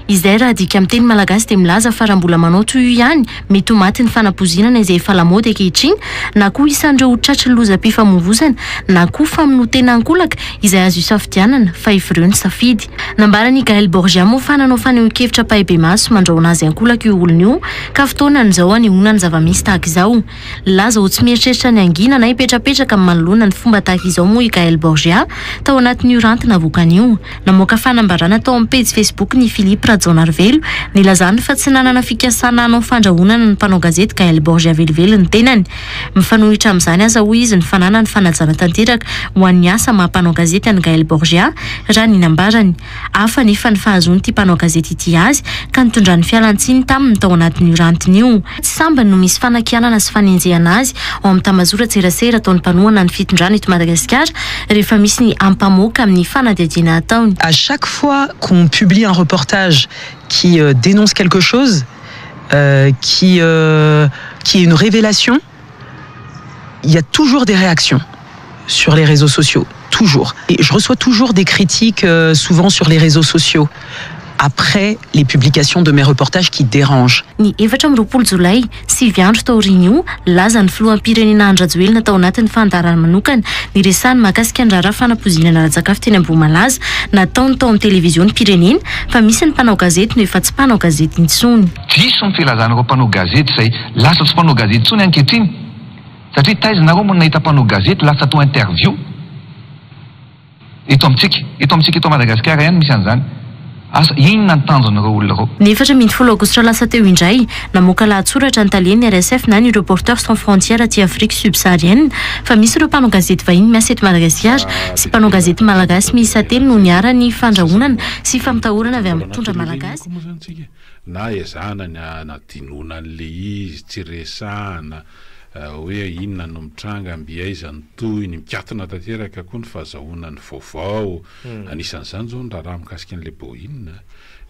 Izay raha adika amin'ny teny malagasy dia milaza fa raha mbola manao toy io ihany, mety ho matin'ny fanapoizinana izay efa lamaody ankehitriny, na koa isan'ireo tratry ny lozam-pifamoivozana, na koa famonoan-tena ankolaka, izay azo isafidianana, fa evireo ny safidy. Nambaran'i Gaël Borgia moa fa nanao fanehoan-kevitra ampahibemaso mandrahona azy ankolaka io olona io, ka fotoana ny izao anehoana ny zava-misy tahaka izao. Laza ho tsy mieritreritra ny hangina na hipetrapetraka manoloana ny fomba tahaka izao moa i Gael Borgia, tao anatin'io ranty navoakany io. Namoaka fanambarana tao amin'ny pejy Facebook-ny i Philippe Rajaonarivelo, nilazany fa tsy nanana fikasana hanao fandrahonana ny mpanao gazety Gael Borgia velively ny tenany. Mifanohitra amin'izany aza hoy izy ny fananany fanajana tanteraka ho an'ny asa maha-mpanao gazety an'i Gael Borgia, raha ny nambarany. Hafa anefa ny fahazoan'ity mpanao gazety ity azy ka nitondrany fialantsiny taminy tao anatin'io rantiny io. Tsy sambany no misy fanakianana sy fanenjehana azy ao amin'ny tambazora-tserasera ataon'ny mpanohana ny fitondrana eto Madagasikara rehefa misy ny ampamoaka amin'ny fanadihadiana ataony. À chaque fois qu'on publie un reportage qui dénonce quelque chose, qui qui est une révélation, Il y a toujours des réactions sur les réseaux sociaux, toujours. Et je reçois toujours des critiques, euh, souvent sur les réseaux sociaux, après les publications de mes reportages qui dérangent. Ny efatra amby roapolo jolay, sivy andro taorian'io, lazan'ny filoham-pirenena Andry Rajoelina tao anatin'ny fandaharana manokana niresahany mahakasika ny raharaha fanapoizinana ara-tsakafo teny Ambohimalaza nataony tao amin'ny televiziônim-pirenena fa misy ny mpanao gazety no efa tsy mpanao gazety intsony. Diso ny filazan'ireo mpanao gazety izay lasa tsy mpanao gazety intsony ankehitriny satria taiza nareo moa no nahita mpanao gazety lasa atao interview eto amintsika? Eto amintsika eto Madagasikara ihany misy an'izany. Asa inona ny tanjon'ireo olona ireo? Ny efatra ambin'ny folo aogositra lasa teo indray, namoaka lahatsoratra ny talehan'ny RSF na ny Reporters sans frontières aty Afrique subsaharienne fa misy ireo mpanao gazety vahiny miasa eto Madagasikara sy mpanao gazety malagasy miisa telo no niharan'ny fandrahonana sy fampitahorana avy amin'ny mpitondra malagasy. Na ezahana ny hanadinoana an'ilay izy, tsy resahana hoe inona no mitranga, mby aiza ny tohiny, mikatona tanteraka koa ny fahazahoana ny vaovao. Anisan'izany izao ny raharaha mikasika an'ilay Boeing,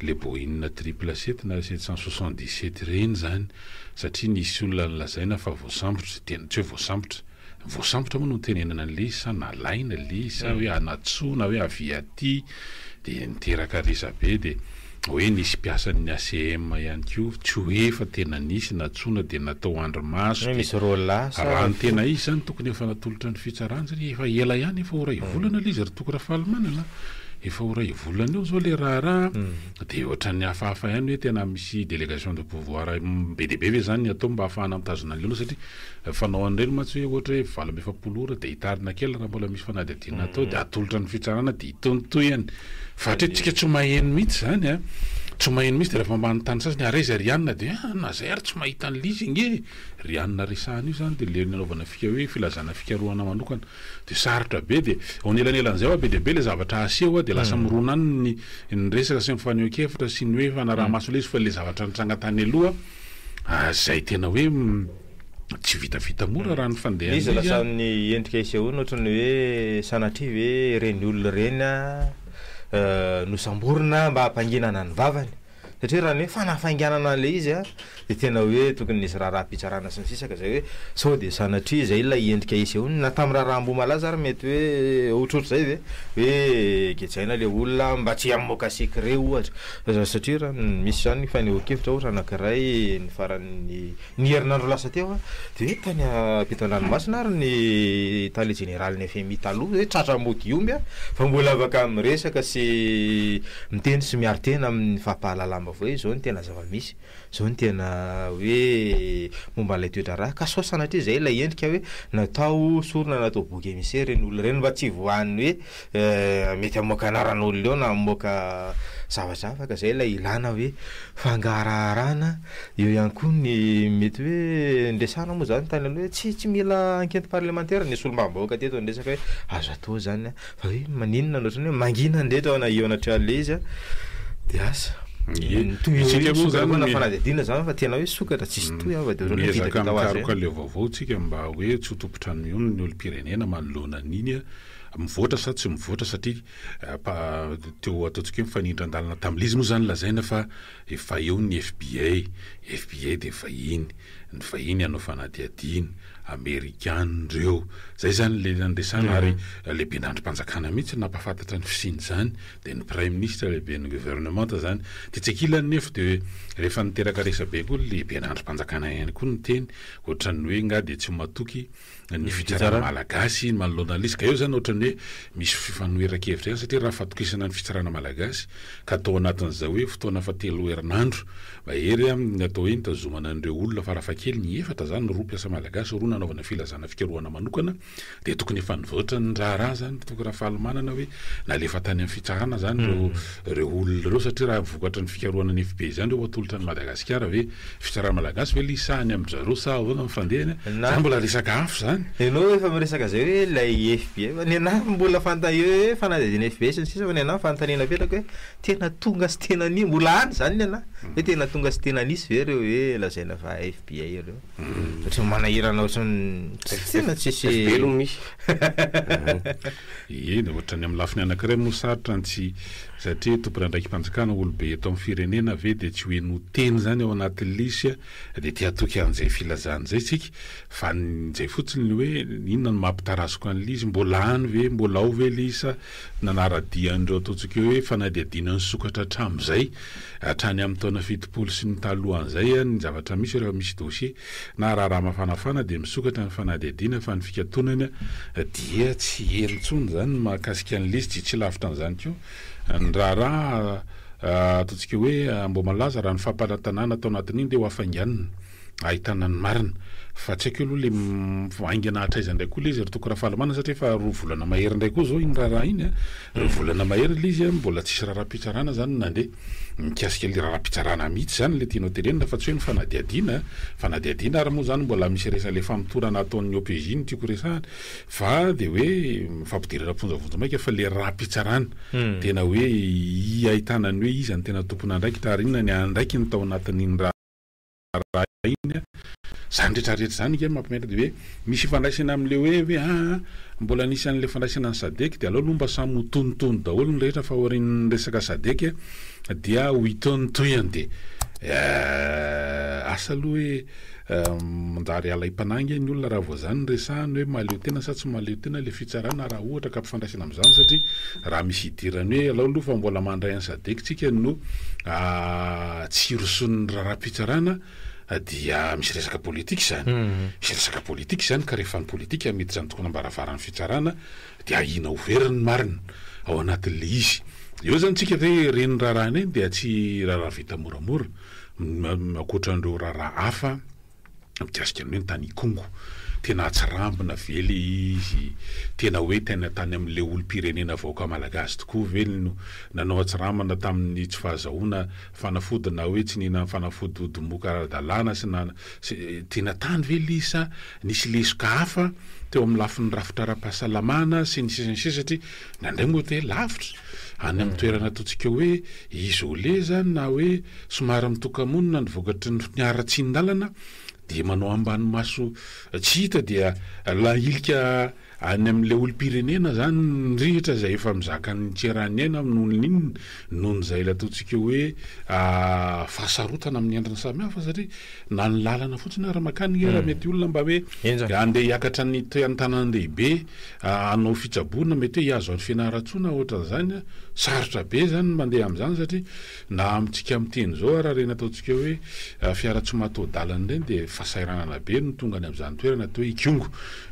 ilay Boeing triple sept na sept cent soixante dix sept ireny izany, satria nisy olona nolazaina fa voasambotra, tena tsy hoe voasambotra, Voasambotra moa no nitenenana an'le izy sa nalaina le izy sa hoe anatsoa na hoe avia aty de niteraka resabe de hoe nisy mpiasan'ny ACM ihany koa tsy hoe efa tena nisy natsoina de natao andrimaso de raha ny tena izy zany tokony efa natolotra ny fitsarana satria efa ela ihany efa ho ray volana le izy ry toky Rafalimanana efa ho ray volana eo zao le raharaha de ohatran'ny hafahafa ihany hoe tena misy delegation de pouvoir be dia be ve zany ny atao mba hahafahana mitazona an'le olona satria Ny fanao an'ireny mantsy hoe ohatra hoe valo amby efapolo ora dia hitarina kely raha mbola misy fanadihadiana atao dia atolotra ny fitsarana dia itontohany fa hatreto tsika tsy maheno mihitsy izany a! tsy maheno mihitsy dia rehefa manontany sasany ary aiza ry anona dia a! na zay ary tsy mahita an'ilay izy ange e! ry anona resahana io zany dia ilay nanaovana fika hoe filazana fikarohana manokana dia sarotra be dia eo anelanelan'izay oa be dia be ilay zavatra aseho a! dia lasa mirona any ny ny resaka sy ny fanehoan-kevitra sy ny hoe fanaraha-maso ilay izy fa ilay zavatra nitranga tany aloha a! izay tena hoe Tsy vitavita mora raha ny fandehan'izy. Izy lasa amin'ny endrika isehoany ohatry ny hoe sanatria ve ireny olona ireny nosamborina mba hampanginana ny vavany? Satria raha ny hoe fanafainganana ilay izy dia tena hoe tokony nisy raharaham-pitsarana sy ny sisa ka izay hoe sao dia sanatria izay ilay endrika isehoany na tamin'ny raharaha Ambohimalaza ary mety hoe ohatrohatr'izay ve? Hoe gejaina ilay olona mba tsy hamoaka secret ohatra satria raha ny misy izany fanehoan-kevitra ohatra anankiray ny faran'ny Ny herinandro lasa teo aho dia hoe tany am-pito an-dranomasina ary ny tale jeneralin'ny fmi taloha hoe tratra mody omby a! fa mbola afaka miresaka sy miteny sy miaro tena amin'ny fampahalalam-baovao izao no tena zava-misy, izao no tena hoe momba an'ilay toe-draharaha ka sao sanatria izay ilay endrika hoe natao sorona natao bouc émissaire ireny olona ireny mba tsy voan'ny hoe Mety hamoaka anaran'olona eo na hamoaka zavatra hafa ka zay ilay ilana hoe fangaraharana, eo ihany koa ny mety hoe ndresana moa zany tany aloha tsy tsy mila enquete parlementaire ny solombavambahoaka teto ny resaka hoe azo atao zany an, fa hoe maninona no otrany hoe mangina ndray teo na eo anatrehan'le izy an, de asa. Ye, isika moa zany mi- fanadihadiana zany fa tena hoe sokatra tsisy toy an fa de otrany hoe miezaka vitavita ho azy mikaroka ireny. leo vaovao tsika mba hoe tsy ho tompotrano mihono ny olom-pirenena manoloana an'iny an. mivoatra sa tsy mivoatra satria teo ataontsika hoe mifanindran-dalana tamin'izy moa izany lazaina fa efa eo ny fbi, fbi dia vahiny, ny vahiny hanao fanadihadiana, amerikana ireo, izay izany ilay nandiresana ary lehiben'andrim-panjakana mihitsy no nampahafantatra ny fisian'izany dia ny praiminisitra lehiben'ny governemanta izany, ny etsy ankilany nefa dia rehefa niteraka resabe koa ny lehiben'andrim-panjakana ihany koa niteny ohatran'ny hoe nga dia tsy matoky ny fitsarana malagasy manoloana an'ilay izy ka eo izany ohatran'ny hoe misy fifanoheran-kevitra ihany satria raha fatokisana ny fitsarana malagasy ka atao anatin'izao hoe fotoana efa telo herinandro mahery amin'ny atao hoe nitazomana an'ireo olona farafahakeliny efatra izany roa mpiasa malagasy roa nanaovana filazana fikarohana manokana dia tokony efa nivoatra ny raharaha izany tokony Rafalimanana hoe nalefa tany amin'ny fitsarana izany ireo ireo olona ireo satria raha vokatry ny fikarohana ny FB izany ireo atolotra an'i Madagasikara ve? Fitsarana malagasy ve ilay sahy ny amin'i zareo sa ahoana ny fandehany? Izany mbola resaka hafa izany. Ianao efa miresaka izay hoe ilay FB fa ny anah mbola fanta eo hoe fanadihadiana FB sy ny sisa fa ny anah fanontaniana apetrako hoe tena tonga sy tena ni- mbola any izany ny anah hoe tena tonga sy tena nisy ve ireo hoe lazaina fa FB ireo? Ohatry ny manahirana ohatry ny tena tsisy velogno misy. Eny, ohatrany amin'ny lafiny anankiray moa sarotra ny tsy satria tompon'andraiki-panjakana olobe eto amin'ny firenena ve dia tsy ho henoy teny izany ao anaty lisy dia te hatoky an'izay filazany izay isika fa ny izay fotsiny ny hoe inona no maha-pitarazoka ny lisy, mbola any ve, mbola ao ve lisy sa Nanara-dia an'ireo ataontsika hoe fanadihadiana nisokatra hatramin'izay, hatrany amin'ny taona fitopolo sy ny talohan'izay, ny zavatra misy rehefa misy dosie na raharaha mafanafana dia misokatra ny fanadihadiana fa ny fikatonana dia tsy heno intsony izany. Ny mahakasika an'i Lisjy, tsy lavitra an'izany koa ny raharaha ataontsika hoe amboamalaza raha ny fampanatanana tao anatin'iny dia ho hafainganina. ahitana ny marina fa tsy haiko aloha le haingana hatraiza indray koa le izy ry toko Rafalimanana satria efa roa volana mahery indray koa zao iny raharaha iny a, roa volana mahery le izy a mbola tsisy raharaham-pitsarana zany nandeha mikasika le raharaham-pitsarana mihitsy zany le tianao tenenina fa tsy hoe ny fanadihadiana a, fanadihadiana ary moa zany mbola misy resany le famotorana ataon'ny OPJ no tiako resahana fa de hoe fampidirana am-ponja vonjy maika fa le raharaham-pitsarana tena hoe ahitana ny hoe iza no tena tompon'andraikitra ary inona ny andraikiny tao anatin'iny raha arahina izany rehetra rehetra izany ange mampimetra dia hoe misy ifandraisany amin'ilay hoe hoe aa mbola nisy an'ilay fandraisana ny sadec dia aleo aloha mba samy ho tonitony daholo ny rehetra fa aorian'ny resaka sadec dia ho itonotoihany dia asa aloha hoe manjary hiala im-panahy ange ny olona raha vao izany no resahina hoe mahaleo tena sa tsy mahaleo tena ilay fitsarana raha ohatra ka mpifandraisana amin'izany satria raha misy hidirany hoe alao aloha fa mbola mandray an'i sadec tsika no tsy hirosoan'ny raharaham-pitsarana dia misy resaka politika izany. Misy resaka politika izany ka rehefa ny politika miditra ny tokonam-baravaran'ny fitsarana dia ahiana ho very ny marina ao anatin'ilay izy. Eo izany tsika ve ireny raharaha ireny dia tsy raharaha vita moramora ankoatra an'ireo raharaha hafa mikasika ny hoe ny tany Ikongo. Tena hatsarambina ve ilay izy? Tena hoe tena tany amin'ilay olom-pirenena vahoaka malagasy tokoa ve no nanao hatsarambina tamin'ny tsy fahazahoana fanafody na hoe tsy nihinan'ny fanafody ho domoka ara-dalàna sy na tena tany ve ilay izy sa nisy lesoka hafa teo amin'ny lafiny rafitra ara-pahasalamana sy ny sisa ny sisa satria Nandray moa dia lavitra, any amin'ny toerana ataontsika hoe isolé izany na hoe somary mitoka-monina ny vokatry ny fiharatsian-dalana dia manao ambany maso tsy hita dia lahilika any amin'ilay olom-pirenena izany ny rihitra izay efa mizaka ny tserany aina noho ny inona noho izay ilay ataontsika hoe fahasarotana amin'ny endriny samy hafa satria na ny lalana fotsiny ary makany anie raha mety olona mba hoe handeha hiakatra ny toean-tanànan-dehibe hanao fitsaboana mety hoe hihazo an'i Fianarantsoa na ohatran'izany, sarotra be izany ny mandeha amin'izany satria na amintsika miteny izao ary ireny ataontsika hoe fiara tsy mataho-dalana ireny dia fahasahiranana be no tonga any amin'izany toerana toa hoe Ikongo,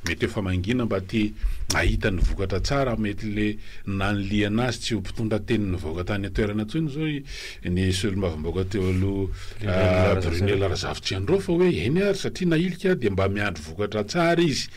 mety efa mangina mba te hahita ny vokatra tsara, mety ilay nanilihana azy tsy ho mpitondra teny nivoaka tany an-toerana intsony izao ny solombavambahoaka teo aloha Brunella Razafitsiandraofa hoe eny ary satria nahilika dia mba miandry vokatra tsara izy.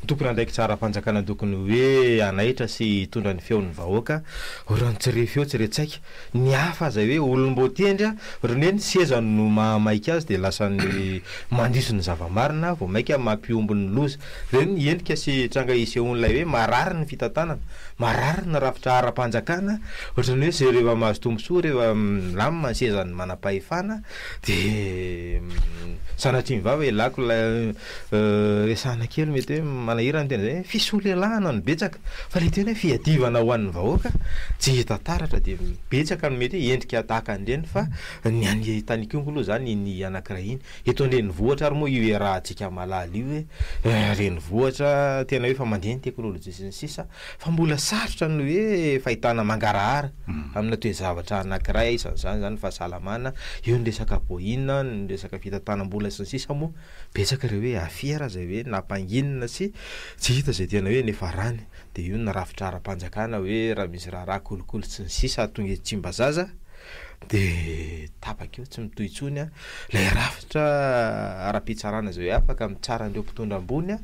Ny tompon'andraikitra ara-panjakana tokony hoe hanaitra sy hitondra ny feon'ny vahoaka, ry an tsy re feo tsy re tsaika, ny hafa aza hoe olom-boatendry a, ry ny hoe ny seza no mahamaika azy dia lasa ny mandiso ny zava-marina vao maika mampihombo ny loza, ireny ny endrika sy tranga isehoan'ilay hoe marary ny fitantanana, marary ny rafitra ara-panjakana, ohatran'ny hoe ze reva mahazo tombontsoa reva milamina ny sezan'ny manam-pahefana dia sanatria mivava e lako la. Resahina kely mety hoe manahirana ny teny izay hoe fisolelahana no betsaka, fa ilay teny hoe fiadivana ho an'ny vahoaka tsy hita taratra dia betsaka ny mety hoe endrika tahaka an'ireny fa ny an'i Tanikongo aloha izany iny anankiray iny. Eto an-drenivohitra ary moa io iarahantsika malala io hoe renivohitra tena hoe efa mandeha ny teknolojia sy ny sisa fa mbola sarotra ny hoe fahitana mangarahara aminà toe-javatra anankiray, isan'izany izany ny fahasalamana, eo ny resaka boina, ny resaka fitantanam-bola sy ny sisa moa. Betsaka ireo hoe affaires izay hoe nampanginina sy tsy hita izay tena hoe niafarany. Dia io ny rafitra ara-panjakana hoe raha misy raharaha kolikoly sy ny sisa hahatonga eto Tsimbazaza dia tapaka eo, tsy mitohy intsony ilay rafitra ara-pitsarana izay hoe afaka mitsara an'ireo mpitondra ambony dia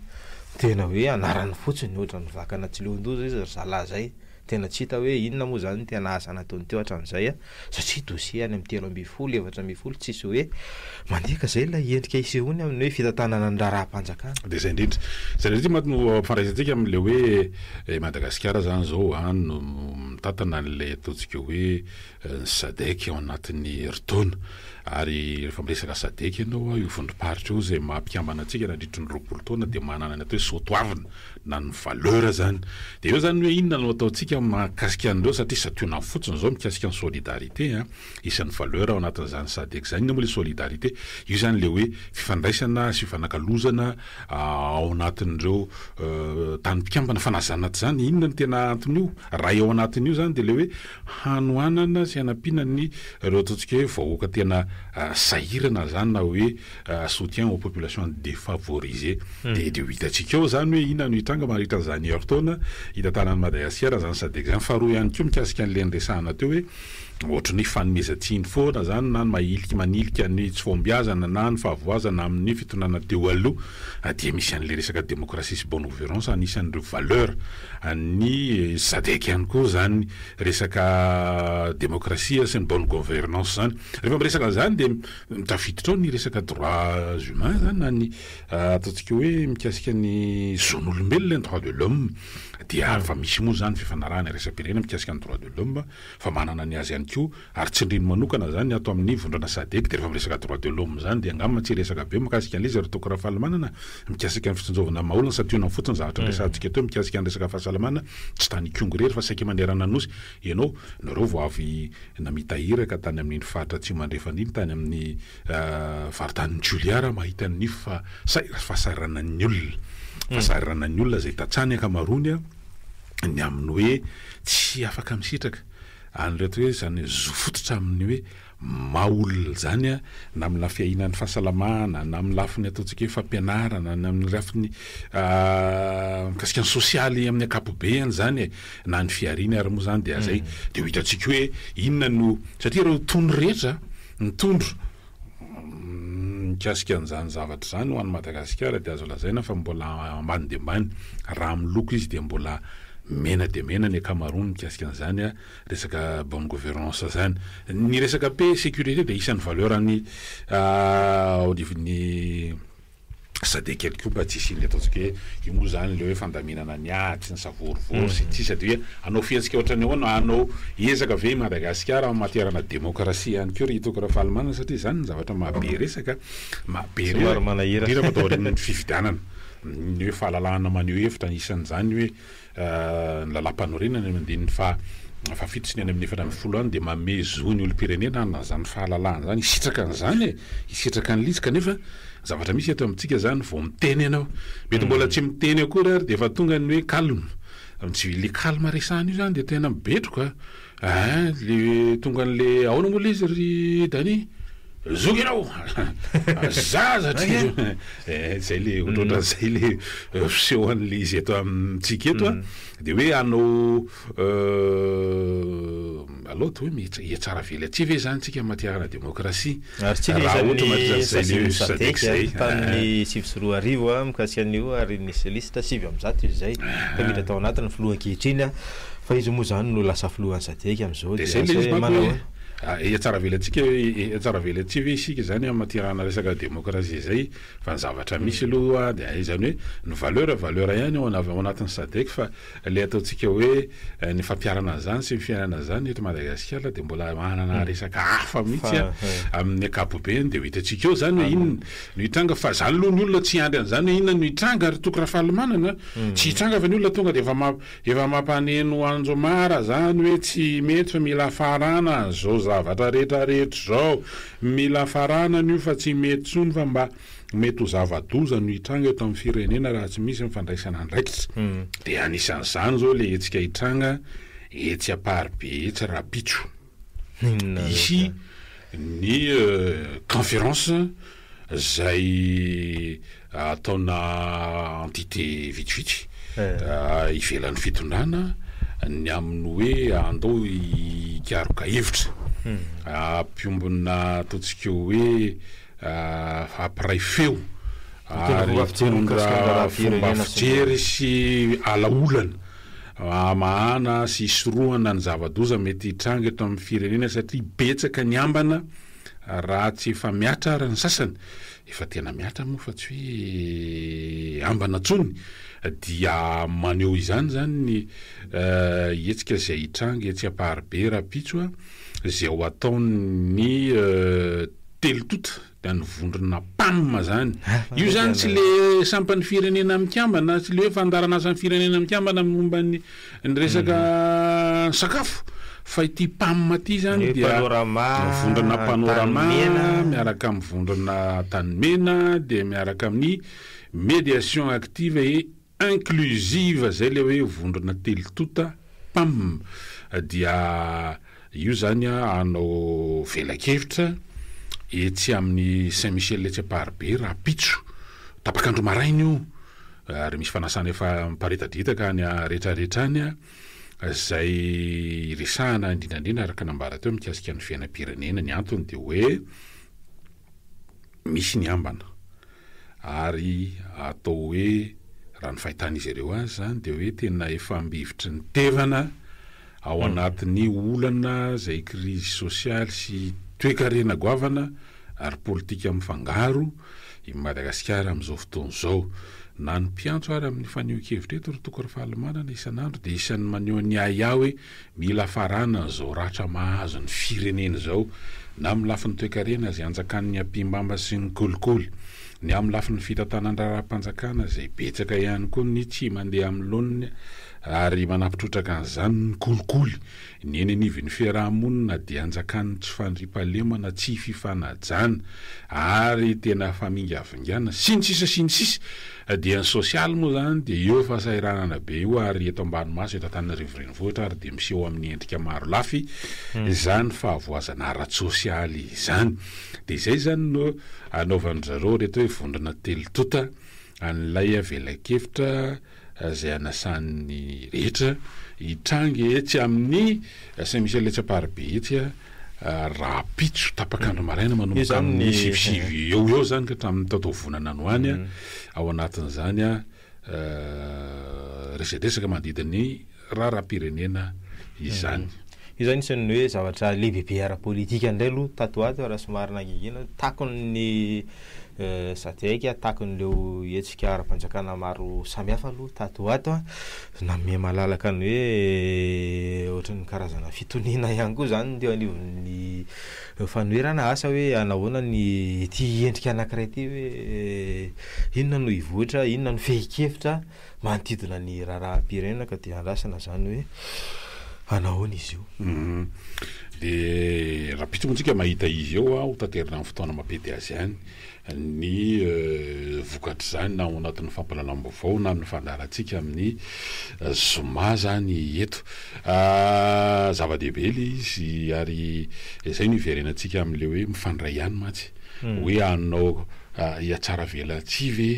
tena hoe anarany fotsiny, ohatran'ny vakana tsy leon-doza izy ry zalahy izay. Tena tsy hita hoe inona moa izany ny tena asa nataony teo hatramin'izay a! satria dossier any amin'ny telo ambin'ny folo, efatra ambin'ny folo tsisy hoe mandika izay ilay endrika isehoany amin'ny hoe fitantanana ny raharaham-panjakana. Dia izay indrindra. Izay indrindra mantsy no ampifandraisantsika amin'ilay hoe i Madagasikara izany izao any no mitantana an'ilay ataontsika hoe ny Sadec ao anatin'ny herintaona ary rehefa miresaka Sadec ianao io vondrom-paritra io izay maha mpikambana antsika nandritry ny roapolo taona dia manana ny atao hoe soatoavina na ny valeur izany dia eo izany ny hoe inona no ataontsika mahakasika an'ireo satria santionany fotsiny izao mikasika ny solidarité an, isan'ny valeur ao anatin'izany Sadec izany inona moa ilay solidarité? io izany ilay hoe fifandraisana sy fifanakalozana ao anatin'ireo tany mpikambana fa na izany na tsy izany inona no tena anton'io raha eo anatin'io izany dia ilay hoe hanohanana sy hanampiana ny reo ataontsika hoe vahoaka tena sahirana zany na hoe soutien aux populations defavorisées de de ho hitantsika eo zany hoe inona no hitranga mandritra an'izany herin-taona hitantanan'i Madagasikara an'izany sadec zany faharoa ihany koa mikasika an'le niresahana teo hoe ohatry ny hoe fanomezan-tsiny foana zany na ny mahilika manilika ny tsy fahombiazana na ny fahavoazana amin'ny fitondrana teo aloha a dia misy an'ilay resaka démocratie sy bonne gouvernance anisan'ireo valeur an'ny sadec ihany koa izany resaka démocratie sy ny bonne gouvernance izany rehefa miresaka an'izany dia mitafiditra ao ny resaka droits humains izany na ny ataontsika hoe mikasika ny zon'olombelona ny droits de l'homme dia fa misy moa izany fifanarahana iraisam-pirenena mikasika ny droits de l'homme fa manana ny azy ihany koa Ary tsindrino manokana zany ato amin'ny vondrana sadec de refa miresaka droit de l'homme zany de angamba tsy hiresaka be mikasika an'le izy ry Docteur Rafalimanana mikasika ny fitsinjovana ny mahaolona santionany fotsiny zavatra niresahantsika teo mikasika ny resaka fahasalamana tsy tany Ikongo irery fa saika manerana ny Nosy ianao nareo vao avy namita iraka tany amin'iny faritra atsimo andrefana iny tany amin'ny varitanin'i Julia raha mahita ny fahasahiranan'ny olona fahasahiranan'ny olona zay tantsaha ny ankamaroany ny amin'ny hoe tsy afaka misitraka an'ireto hoe izany zo fototra amin'ny hoe maha olona izany na amin'ny lafiny fiahinan'ny fahasalamana na amin'ny lafiny ataontsika hoe fampianarana na amin'ny lafiny mikasika ny sosialy amin'ny ankapobeny izany e na ny fihariana ary moa izany dia zay dia ho hitantsika hoe inona no satria ireo tony rehetra ny tondro mikasika an'izany zavatra izany ho an'i Madagasikara dia azo lazaina fa mbola ambany dia ambany. Raha amin'ny loko izy dia mbola mena dia mena ny ankamaroany mikasika an'izany resaka bonne gouvernance izany. Ny resaka paix, sécurité dia isan'ny valeur an'ny ao anivon'ny Sady ekeko koa mba tsy hisian'ilay ataontsika hoe io moa izany ilay hoe fandaminana ny ady sy ny savorovoro sy ity sady hoe hanao fihetsika ohatran'ny ahoana, hanao ezaka ve i Madagasikara en matière na démocratie ihany koa ry hitako Rafalimanana satria izany no zavatra maha be resaka, maha be resaka ato aorian'ny fifidianana ny hoe fahalalahana maneho hevitra anisan'izany hoe. Ny Lalàmpanorenana eny amin'ny andininy fahafito sy ny any amin'ny efatra ambin'ny folo any dia manome zo ny olom-pirenena hanana izany fahalalahana izany hisitraka an'izany e! hisitraka an'ilay izy kanefa ny zavatra misy eto amintsika izany vao miteny ianao mety mbola tsy miteny akory ary dia efa tonga ny hoe calme, le calme resahana io izany dia tena mibetroka. Aa le tonga anle aona moa le izy ry Dani? Zoky ianao a! Zaza hatrizay a! Ee zay le ohatrohatran'izay le fiseho anle izy eto amintsika eto a! De hoe hanao allo de hoe mihetsara vely aty ve zany tsika matihanà demokrasia? Ary tsy ilay isan'ny sazin'ny Sadec tamin'ny sivy sy roa arivo mikasika an'io ary nisy liste sivy amby zato izy izay ka miditra tao anatiny filoha ankehitriny fa izy moa izany no lasa filohan'ny Sadec amin'izao dia asa hoe manao ahoana? Hihatsaravelatsika hihatsaravelatsihy ve isika izany amin'ny manerana resaka demokrasia izay fa ny zavatra misy aloha dia izany hoe ny valeur valeur ihany ao anatin'ny Sadec fa Ilay ataontsika hoe ny fampiharana an'izany sy ny fiainana an'izany eto Madagasikara dia mbola manana hmm. resaka hafa mihitsy amin'ny ankapobeny dia ho hitantsika eo izany hoe inona no hitranga fa izany aloha ny olona tsy hiandry an'izany hoe inona no hitranga ary toko Rafalimanana hmm. tsy hitranga fa ny olona tonga dia efa efa mampaneno anjomara izany hoe tsy mety fa mila farana an'izao zavatra rehetra rehetra izao mila farana an'io fa tsy mety tsony fa mba Mety ho zava-doza no hitranga eto amin'ny firenena raha tsy misy ny fandraisana andraikitra. Dia anisan'izany izao ilay hetsika hitranga etsy Amparibe etsy rahampitso. Hisy ny conférence izay ataona entité vitsivitsy ivelan'ny fitondrana ny amin'ny hoe andao hikaroka hevitra. Ampiombona ataontsika hoe. hampiray feo ary hitondra fomba fijery sy alaolana hamahana sy hisorohana ny zava-doza mety hitranga eto amin'ny firenena satria betsaka ny ambana raha tsy efa mihatra ary ny sasany efa tena mihatra moa fa tsy hoe ambana intsony dia maneho izany izany ny hetsika izay hitranga etsy Amparibe rahampitso izay ho ataon'ny Telo tonta dia ny vondrona Pam zany. Io zany tsy le sampan'ny firenena mikambana, tsy le hoe fandaharanasan'ny firenena mikambana amin'ny momba ny ny resaka sakafo fa ity Pam ity zany dia vondrona Panorama miaraka amin'ny vondrona Tanimena dia miaraka amin'ny Mediation Active et inclusive zay le hoe vondrona telo tonta pam dia io zany a hanao velakevitra etsy amin'ny saint Michel etsy amparibe rahampitso tapaka andro maraina io ary misy fanasana efa miparitaditaka any aretraretra any a zay hiresahana indrindrandrindra araka nambara teo mikasika ny fiainam-pirenena ny antony dia hoe misy ny ambana ary atao hoe raha ny fahitan'izy ireo azy izany dia hoe tena efa ambivitry ny tevana ao anatin'ny olana izay krizy sosialy sy toekarena goavana ary politika mifangaro i Madagasikara amin'izao fotoana izao. Na ny mpiantso ary amin'ny fanehoan-kevitra eto ry Toko Rafalimanana isan'andro dia isan'ny maneho ny ahiahy hoe Mila faranana izao ratra mahazo ny firenena izao, na amin'ny lafiny toekarena izay anjakan'ny ampihimamba sy ny kolikoly, ny amin'ny lafiny fitantanan-draharaham-panjakana izay betsaka ihany koa ny tsy mandeha amin'ny laoniny ary manampitrotraka an'izany ny kolikoly, ny eny anivon'ny fiaraha-monina dia anjakan'ny tsy fandriampahalemana, tsy fifanajana ary tena famingavingana, sy ny sisa sy ny sisa. Dia ny sosialy moa izany dia eo fahasahiranana be eo ary eto ambany maso eto Antananarivo renivohitra ary dia miseho amin'ny endrika maro lafy izany fahavoazana ara-tsosialy izany. Dia izay izany no anaovan-dry zareo ireto hoe vondrona telo tonta an'ilay velakevitra izay anasan'ny rehetra hitranga etsy amin'ny Saint Michel etsy Amparibe etsy. rahampitso tapaka andro maraina manomboka amin'ny sivysivy eo eo zany ka hatramin'ny taotaovonana any ho any a, ao anatin'izany a resadresaka manodidina ny raharaham-pirenena izany. Io zany isan'ny hoe zavatra lehibebe ara-politika indray aloha tato ho ato raha somary nangingina, takon'ny Sadc, takon'ireo hetsika ara-panjakana maro samihafa aloha tato ho ato a. Nanome malalaka ny hoe ohatry ny karazana fitoniana ihany koa izany ny teo anivon'ny fanoherana asa hoe hanahoana ny ity endrika anankiray ity hoe inona no hivoitra, inona no fehin-kevitra manodidina ny raharaham-pirenena ka dia andrasana izany hoe hanahoana izy io. Dia raha bitsiko antsika mahita izy eo hotaterina amin'ny fotoana mampety azy ihany. ny vokatr'izany na ao anatin'ny fampahalalam-baovao na amin'ny fandaharantsika amin'ny zoma izany eto. Zava-dehibe ilay izy ary izay no hiverenantsika amin'ilay hoe mifandray ihany mantsy. Hmm. Hoe hanao hiatsaravelatsihy ve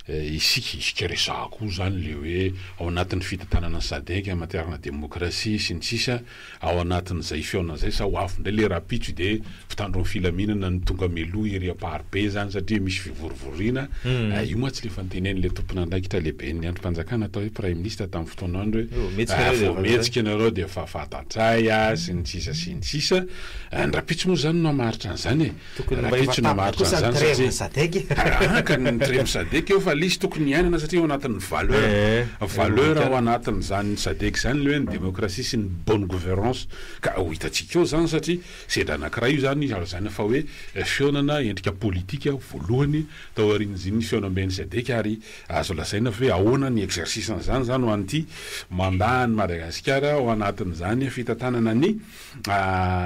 eh, isika isika resahako izany ilay hoe ao anatin'ny fitantanana ny SADEC, matière-na demokrasia sy ny sisa. ao anatin'izay fihaonana izay sa ho avy indray le rapitso de mpitandro ny filaminana no tonga mialoha ery amparibe zany satria misy fivorivoriana ah, io mantsy le efa notenenin'le tompon'andraikitra lehiben'ny andrim-panjakana atao hoe praiminisitra tamin'ny fotoana andro hoe raha vao mihetsika ianareo de efa fantatray ah sy ny sisa sy ny sisa, ny rapitso moa zany no hamaritra an'izany e! Tokony mba efa tapitra kosa ny treve ny sadec e. Arahaka ny treve sadec eo fa lisy tokony hiainana satria ao anatin'ny valeur. Valeur ao anatin'izany sadec izany ilay hoe ny démocratie sy ny bonne gouvernance ka ho hitantsika eo izany satria sedra anankiray io izany ary izany fa hoe fihaonana endrika politika voalohany tao aorian'ny fihaonamben'ny sadec ary azo lazaina fa hoe ahoana ny exercice-n'izany izany ho an'ity mandat an'i Madagasikara ao anatin'izany fitantanana ny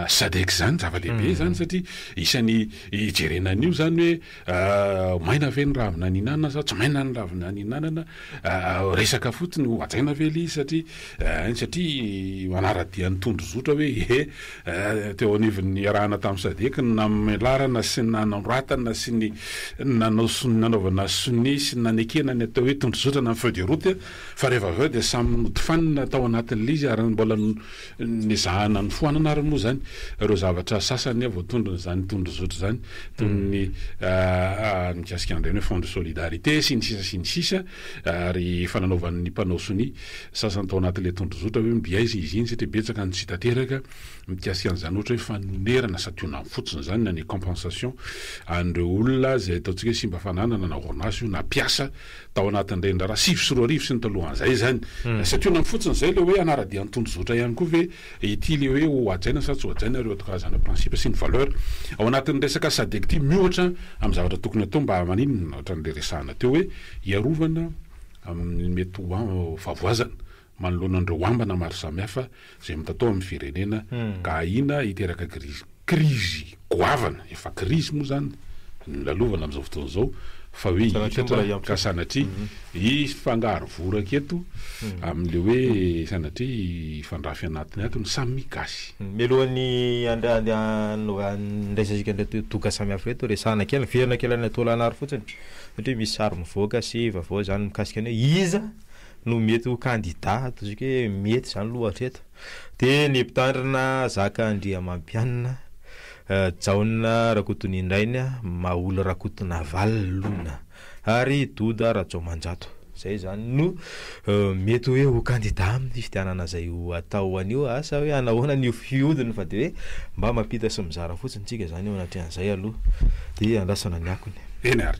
Sadec izany zava-dehibe izany satria isan'ny ijerena an'io izany hoe maina ve ny ravina nihinanana sa tsy maina ny ravina nihinanana, resaka fotsiny ho hajaina ve ilay izy satria ein satria manara-dia ny tondrozotra hoe he teo anivon'ny niarahana tamin'ny Sadec ny namelarana sy ny nanoratana sy ny nanao sonia, nanaovana sonia sy ny nanekena ny atao hoe tondrozotra na ny feuille de route fa rehefa avy eo dia samy notifanina tao anatin'ilay izy ary mbola Nezahana nofoanana ary moa izany ireo zavatra sasany voatondron' izany tondrozotra izany, toy ny mikasika an'ireny hoe fonds de solidarité sy ny sisa sy ny sisa, ary efa nanaovan'ny mpanao sonia sasany tao anatin'ilay tondrozotra hoe mby aiza izy iny satria betsaka no tsy hita teraka mikasika an'izany ohatra hoe fanonerana santionany fotsiny izany na ny compensation an'ireo olona izay ataontsika hoe simba fananana na orinasa io na mpiasa tao anatin'ny reniraharaha sivy sy roa arivo sy ny talohan'izay izany. Satria na fotsiny izay ilay hoe hanara-dia ny tondrozotra ihany koa ve ity ilay hoe ho hajaina sa tsy ho hajaina ireo karazana principe sy ny valeur ao anatin'ny resaka Sadec ity miohatra amin'ny zavatra tokony hatao mba maninona ohatran'ilay resahana teo hoe hiarovana amin'ny mety ho fahavoazana manoloana an'ireo ambana maro samihafa izay mitatao amin'ny firenena ka ahiana hiteraka krizy krizy goavana, efa krizy moa izany no lalovana amin'izao fotoana izao fa hoe hiitatra ka sanatria hifangaro voraka eto amin'ilay hoe sanatria hifandrafy anatiny ato ny samy gasy. Mialohan'ny handraisantsika an'ireto doka samihafa ireto, resahina kely, niverina kely any Antoholanaro fotsiny satria misy sary mivoaka sy vaovao izany mikasika ny hoe iza no mety ho kandida ato ziko hoe mety zany aloha hatreto de ny mpitandrina Zaka Andriamampianina Jaona Rakotonindraina Maholy Rakotonavalona ary Doda Rajaomanjato zay zany no mety hoe ho kandida aminy fifidianana zay ho atao anio asa hoe hanao ahoana ny fiodiny fa de hoe mba mampita sy mizara fotsiny tsika zany eo anatrehan'izay aloha de andrasana ny akony. Eny ary.